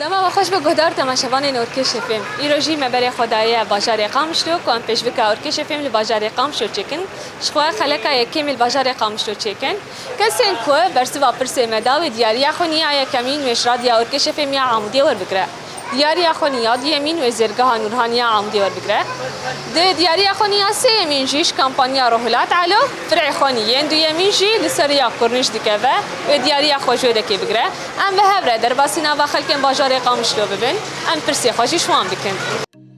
Dema we xweş be guhdar temaşevanên Orkêşê Fêm. Îro jî me berê xwe daye bajarê Qamişlo ku em pêşbike Orkêşê Fêm li bajarê Qamişlo çêkin ji xwe xeleka yekêmî li bajarê Qamişlo çêkin. Kesên ku bersiva pirsê me da wê diyariya xwe niyaye kemîn wê ji Radya Orkêşê Fêm ya Amûdiyê werbigire. Diyariya Xwenî ya duyemîn wê Zêrgeha Nûrhanî ya Amûdê werbigire. Di Diyariya Xwenî ya sêyemîn jî ji kampanya Rohilat Elo, Firê Xwenî, yên duyemîn jî li ser rêya Kurnîş dikeve wê diyariya xwe ji wê de kêbigire. Em bi hev re derbasî nava xelkên bajarê Qamişlo bibin, em pirsê xwe jî ji wan bikin.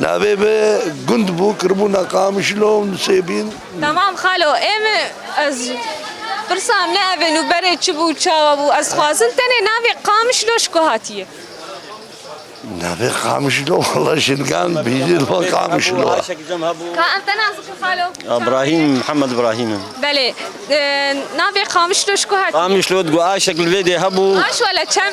Navê bi gund bû kiribûna Qamişlo û Nusêbîn. Tamam xalo em ez pirsa me ev in û berê çi bû çawa bû ez xwazin tenê navê Qamişlo ji ku hatiye. Navê Qamişlo wala jingan bîjê li wan Qamişlo a. Ka em te nazikin xalo? Brahîm Mihemed Brahîm in. Belê navê Qamişlo ji ku hatiye? Qamişlo di Guaşek li vê dê hebû. Aş wala çem?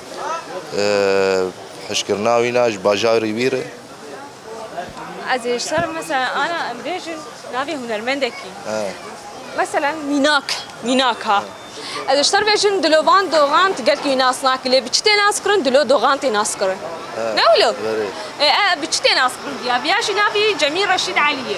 Hişkirina wî na ji bajarî wî re. Ez ê ji ser mesela ana em bêjin navê hunermendekî. Mesela mînak, mînak ha. Ez ê ji ser bêjin dilovan doxan tu gelkî wî nas nakî lê bi çi tê naskirin dilo doxan tê naskirin. Ne wilo? Berê. Ê bi çi tê naskirin viya? Viya jî navê Cemîl Reşîd Elî ye.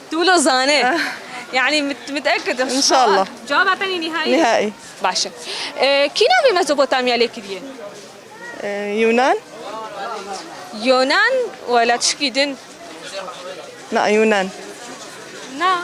Tu wilo zanê. Yanî mutekid im. Înşallah. Cevaba te nî nîhayî. Nîhayî. Baş e. Kî navê Mezopotamya lê kiriye? Yunan. Yunan wela tişkî din. Na Yunan. Na.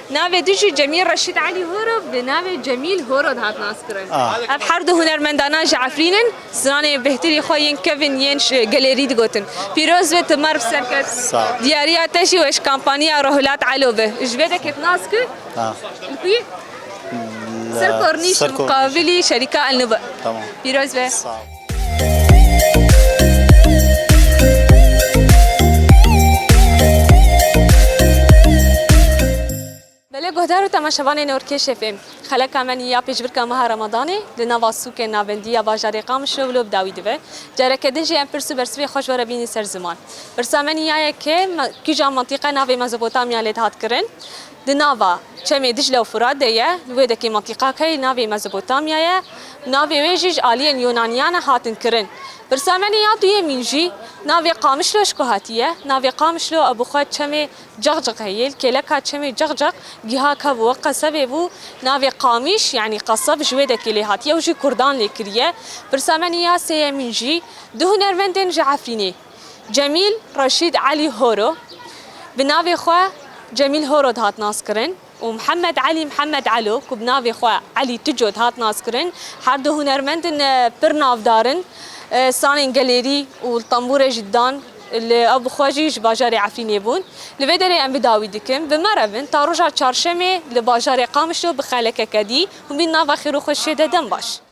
Navê din jî Cemîl Reşîd Elî Horo bi navê Cemîl Horo dihat naskirin. Ev her du hunermendanan ji Efrîn in, stranên bêhtirî xwe yên kevn yên gelê rî digotin. Pîroz be tu merv serkeft. Diyariya te jî weş kampaniya Rohilat Elo be. Ji vê de ket nas ku li ku ye? Li ser kornîş li muqabilî şerîka El Nûba. Pîroz be. Belê guhdar û temaşevanê Norkêşê fêm. Xeleka me nîya pêşbirka meha Remadanê li nava sûkên navendî ya bajarê Qamişlo wilo bi dawî dibe. Careke din jî em pirs û bersivê xwe ji we re bînî ser ziman. Pirsa me nîya ye ke kîjan mantîqe navê Mezopotamya lê dihat kirin? Di nava çemê Dîcle û Furat de ye, li wê dekê Mantiqak heye navê Mezopotamya ye, navê wê jî ji aliyên Yûnaniyan e hatin kirin. Pirsemenê ya duyemîn jî navê Qamişlo ji ku hatiye, navê Qamişlo ew bi xwe çemê Ceqceq heye, li kêleka çemê Ceqceq giha ka bi we qesebê bû, navê Qamiş yanî qeseb ji wê dekê lê hatiye û jî kurdan lê kiriye. Pirsemenê ya sêyemîn jî du hunermendên ji Efrînê. Cemîl Reşîd Elî Horo, bi navê xwe Cemîl Horo dihat naskirin û Mihemed Elî Mihemed Elo ku bi navê xwe Elî Tico dihat naskirin, her du hunermend in pir navdar in, stranên gelêrî û li tembûrê jî dan, li ew bi xwe jî ji bajarê Efrînê bûn. Li vê derê em bi dawî dikim, bi me re bin, ta roja Çarşemê li bajarê Qamişlo bi xelekeke dî, hûn bîn nava xêr û xweşiyê de dem baş.